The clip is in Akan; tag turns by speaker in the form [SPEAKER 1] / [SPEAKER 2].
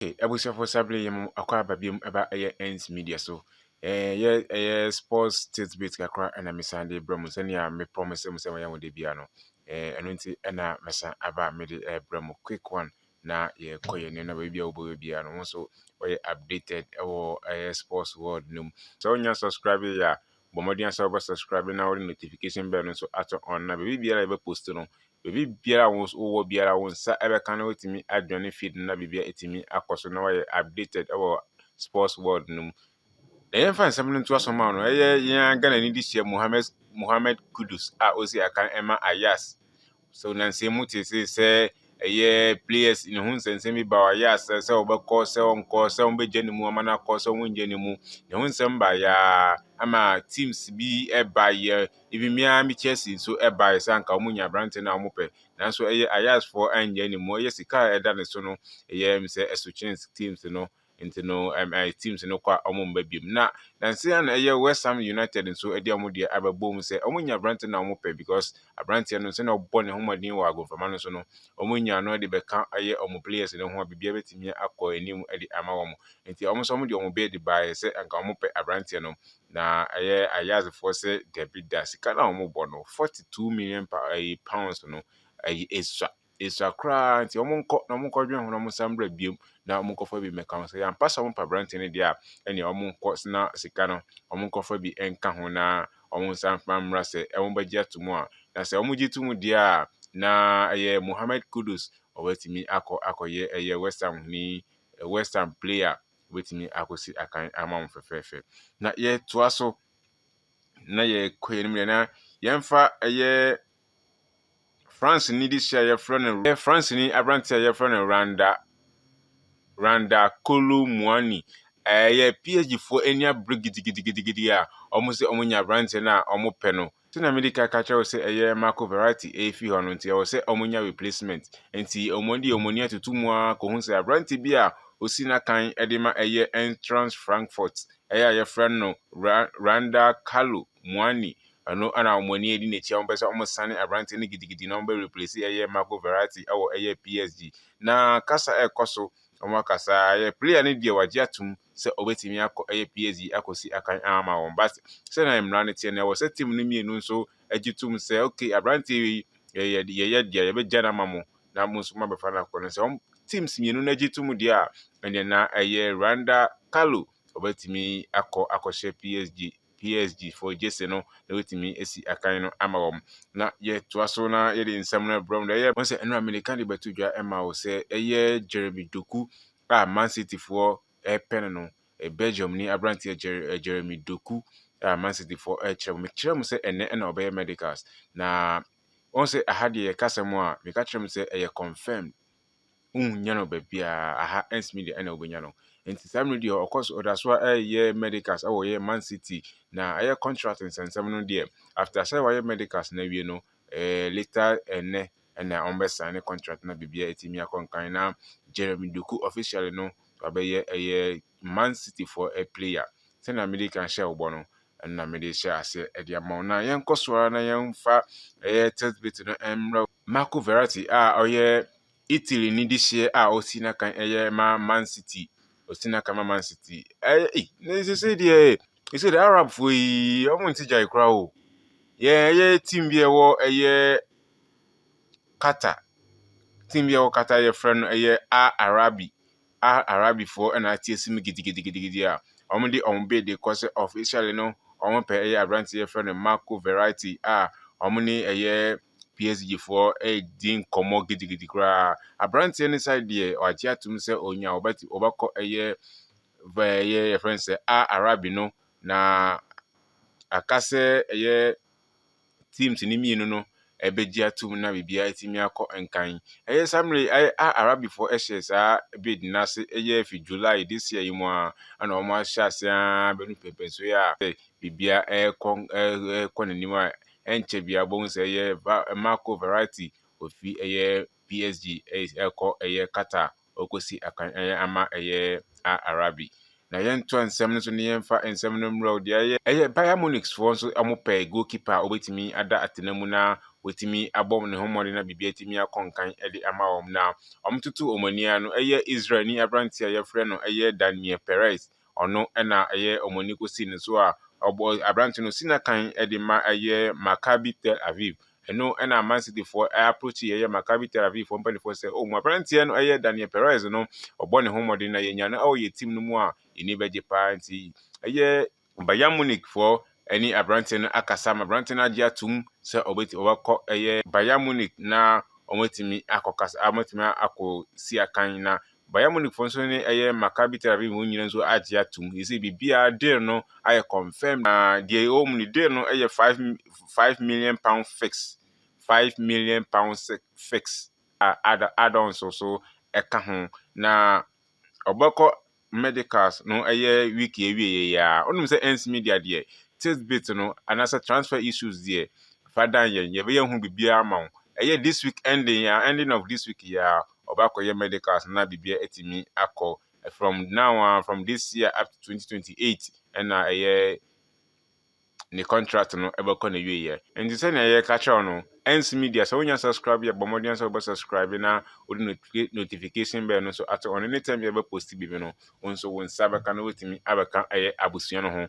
[SPEAKER 1] Hey, abusuafo sabere yɛ mu akɔ aba biom ɛba ɛyɛ ends media so ɛyɛ ɛyɛ sports tidbit kakra ɛna mesan de brɛ mu sɛnea me promise mu sɛ wɔyɛ wɔn de bia no ɛno nti ɛna mesan aba mede ɛbrɛ mu quick one na yɛkɔ yɛn nneɛma baabi a wobɛyɛ bia no ho so wɔyɛ updated ɛwɔ ɛyɛ sports world no mu sɛ wonya subscribe yɛ a bɔ mmɔden ara sɛ wobɛ subscribe na wode notification bell no nso ato on na baabi biara a yɛbɛ post no baabi biara a wowɔ biara wo nsa ɛbɛka no wotumi adwane feed no na biribiara ɛtumi akɔ so na wayɛ updated ɛwɔ sports world no mu na yɛmfa nsɛm no nto aso ma no ɛyɛ yɛn Ghana ni de hyia Mohammed Mohammed Kudus a ɔsi akan ɛma Ayas Sɛ ɔnansa mu te se sɛ ɛyɛ players ne ho nsɛnsɛm bi ba a ɔyɛ asɛ sɛ ɔbɛkɔ sɛ ɔnkɔ sɛ ɔbɛgya ne mu ama no akɔ sɛ ɔngya ne mu ne ho nsɛm baeɛ ama teams bi baeɛ ebi mmea me Chelsea nso baeɛ sɛ anka wɔn nya aberante no a wɔn pɛ nanso ɛyɛ ayasfoɔ angya ne mu ɛyɛ sika a ɛda ne so no ɛyɛ sɛ ɛso kyɛn teams no nti no ɛm ɛɛ teams no kɔ a wɔn mma biom na nansi a na ɛyɛ West Ham United nso ɛde wɔn deɛ abɛbɔ mu sɛ wɔn nya aberante na wɔn pɛ because aberanteɛ no sɛ na ɔbɔ ne ho mmɔden wɔ agonframa no so no wɔn nya no ɛde bɛka ɛyɛ wɔn players no ho a biribiara bɛtumi akɔ anim ɛde ama wɔn nti wɔn nso wɔn de wɔn bid baeɛ sɛ anka wɔn pɛ aberanteɛ no na ɛyɛ ayazefoɔ sɛ dabi da sika na wɔn bɔ no forty two million pa ɛyi pounds no ɛyi esua. Esua koraa nti wɔn nkɔ na wɔn nkɔ dwen ho na wɔn nsa mbra biom na wɔn nkɔ fa bi mmɛka ho sɛ yɛ ampa sɛ wɔn pɛ aberanteɛ no deɛ a ɛnea wɔn nkɔ sena sika no wɔn nkɔ fa bi nka ho na wɔn nsa mfa mmra sɛ wɔn bɛgye ato mu a na sɛ wɔn gye to mu deɛ a na ɛyɛ Mohammed Kudus ɔbɛtumi akɔ akɔyɛ ɛyɛ West Ham huni West Ham player ɔbɛtumi akɔsi akan ama wɔn fɛfɛɛfɛ na yɛtoa so na yɛkɔ yɛn mu deɛ na yɛmfa ɛyɛ Franseni desi a wɔfrɛ no yɛ Franseni aberante a wɔfrɛ no Randa Randa Kolo Muani. Ɛyɛ PHDfoɔ ani abere gidigidigidi a wɔn sɛ wɔn nya aberante no a wɔn pɛ no. Sɛnea medi kan ka kyerɛ wo sɛ ɛyɛ Marco Verratti ɛrefi hɔ no nti ɛwɔ sɛ wɔn nya replacement. Nti wɔn de wɔn ani atutu mu ara kɔhu sɛ aberante bi a osi n'akan de ma ɛyɛ Eintracht Frankfurt ɛyɛ a wɔfrɛ no Randa Kalo Muani. Ɛno na wɔn ani adi n'akyi a wɔpɛ sɛ wɔsane aberanteɛ no gidigidi na wɔbɛ replace ɛyɛ Marco Verratti ɛwɔ ɛyɛ PSG. Na kasa ɛkɔ so, wɔn akasa ɛyɛ player no deɛ wagye atum sɛ ɔbɛtumi akɔ ɛyɛ PSG akɔsi akan ama wɔn but sɛnea mmara no teɛ no ɛwɔ sɛ team no mmienu nso agye tum sɛ okay aberanteɛ wei yɛyɛ yɛyɛ deɛ yɛbɛgya no ama mo na mo nso mabɛfa no akɔ no sɛ wɔn teams mmienu no agye tum deɛ a ɛnna na ɛyɛ Randa Carlo ɔbɛtumi akɔ akɔhyɛ PSG PSG foɔ gyese no na watumi asi akan no ama wɔn. Na yɛtoa so na yɛde nsɛm no brɛ wɔn. Ɛyɛ sɛ ɛno a Amerika de bɛto dwa ma wo sɛ ɛyɛ Jeremy Doku a Man City foɔ ɛpɛ no no. Belgium ni aberanteɛ Jeremy Doku a Man City foɔ ɛkyerɛ mu. Mekyerɛ mu sɛ ɛnɛ ɛna ɔbɛyɛ medicals na wɔn sɛ aha deɛ yɛkasa mu a meka kyerɛ mu sɛ ɛyɛ confirmed wonnya no baabiara, aha ntumi deɛ ɛna wobɛnya no. Nti saa mmerɛ deɛ ɔkɔ so ɔda so ɛyɛ medicals ɛwɔ yɛ man city na ɛyɛ contract nsɛnsɛm no deɛ after sɛ wayɛ medicals na awie no eh, later ɛnɛ eh, ɛna wɔn bɛ sign ne contract na biribiara ɛtumi akɔ nkan na Jeremy Doku officially no wabɛyɛ ɛyɛ Man City for a player sɛnea mede kan hyɛ ɔbɔ no ɛna mede hyɛ aseɛ ɛde ama wo na yɛnkɔ so ara na yɛmfa ɛyɛ test bit no ɛmmerɛ Marco Verratti a ɔyɛ Italy ne de hyeɛ a ɔsi n'akan yɛ ma Man City ɔsi n'akan ma Man City ɛyɛ ei ne sese deɛ sese deɛ Arabfoɔ yi wɔn nti gyae koraa o yɛ ɛyɛ team bi ɛwɔ ɛyɛ Qatar team bi ɛwɔ Qatar yɛfrɛ no ɛyɛ Al Arabi a Arabfoɔ na ateasim gidigidigidi a wɔde wɔn bid rekɔ sɛ officially no wɔpɛ ɛyɛ aberanteɛ yɛfrɛ no Marco Verratti a wɔne ɛyɛ PSG foɔ redi nkɔmmɔ gidigidi koraa. Aberanteɛ no side deɛ wagye atom sɛ onya ɔbɛte ɔbɛkɔ ɛyɛ vɛ ɛyɛ yɛfrɛ no sɛ Al Arabi no na aka sɛ ɛyɛ teams no mmienu no bɛgye atom na biribiara atumi akɔ nkan. Ɛyɛ saa mmerɛ yi a Arabifoɔ hyɛɛ saa bid no ase yɛ fi July this year yi mu a ɛna wɔn ahyɛ ase ara bɛnu pɛmpɛnsoɔ yi a biribiara ɛrekɔ ɛrekɔ n'anim a ɛnkyɛ biara bɔhu sɛ ɛyɛ Marco Verratti ofi ɛyɛ PSG ɛrekɔ ɛyɛ Qatar. Ɔrekɔsi akan ɛyɛ ama ɛyɛ a Arabi. Na yɛntoa nsɛm no so na yɛmfa nsɛm no mmrɛ wo deɛ ɛyɛ. Ɛyɛ Bayern Munich foɔ nso wɔpɛɛ goal keeper a ɔbɛtumi ada atena mu na watumi abɔ ne ho mmɔden na biribi atumi akɔ nkan de ama wɔn. Na wɔtoto wɔn ani ara no ɛyɛ Israelni aberanteɛ a yɛfrɛ no ɛyɛ Daniel Perez. Ɔno na ɛyɛ wɔn ani kosi ne so a ɔbɔ aberante no si n'akan de ma ɛyɛ Maccabi Tel Aviv. Ɛno na Man Cityfoɔ approachi ɛyɛ Maccabi Tel Avivfoɔ mpanimfoɔ sɛ, Oh, mo aberanteɛ no ɛyɛ Daniel Perez no, ɔbɔ ne ho mmɔden na yɛnya no wɔ yɛn team no mu a, yɛn ani bɛgye paa. Nti ɛyɛ. Bayern Munichfoɔ ne aberanteɛ no akasa ma aberanteɛ no agye atom sɛ ɔbɛtumi, ɔbɛkɔ ɛyɛ Bayern Munich na wɔatumi akɔkasa, wɔatumi akɔsi akan na Bayern Munich fo nso ne ɛyɛ Maccabi Tel Aviv mu nyina nso agye atum. Yɛsɛ biribiara deal no ayɛ confirmed na deɛ ɛwɔ mu no deal no yɛ five five million pound fix five million pound fix a add-ons so ɛka ho na ɔbɛkɔ medicals no ɛyɛ week yɛwieɛ yɛ a wonim sɛ ends media deɛ titbit no anaasɛ transfer issues deɛ fa dan yɛn yɛbɛyɛ ho biribiara ma wo ɛyɛ this week ending a ending of this week yɛ a ɔbakɔyɛ medicals na biribiara atumi akɔ from now a from this year up to 2028 ɛna ɛyɛ ne contract no ɛbɛkɔ ne wieɛ nti sɛnea yɛka kyerɛw no ɛnsi media sɛ wonya subscribe yɛ bɔ mmɔden sɛ wobɛ subscribe na wode notifi- notification bɛɛ no nso ato ɔno ne tɛm yɛbɛ post biribi no wo nso wo nsa bɛka no wotumi abɛka ɛyɛ abusua no ho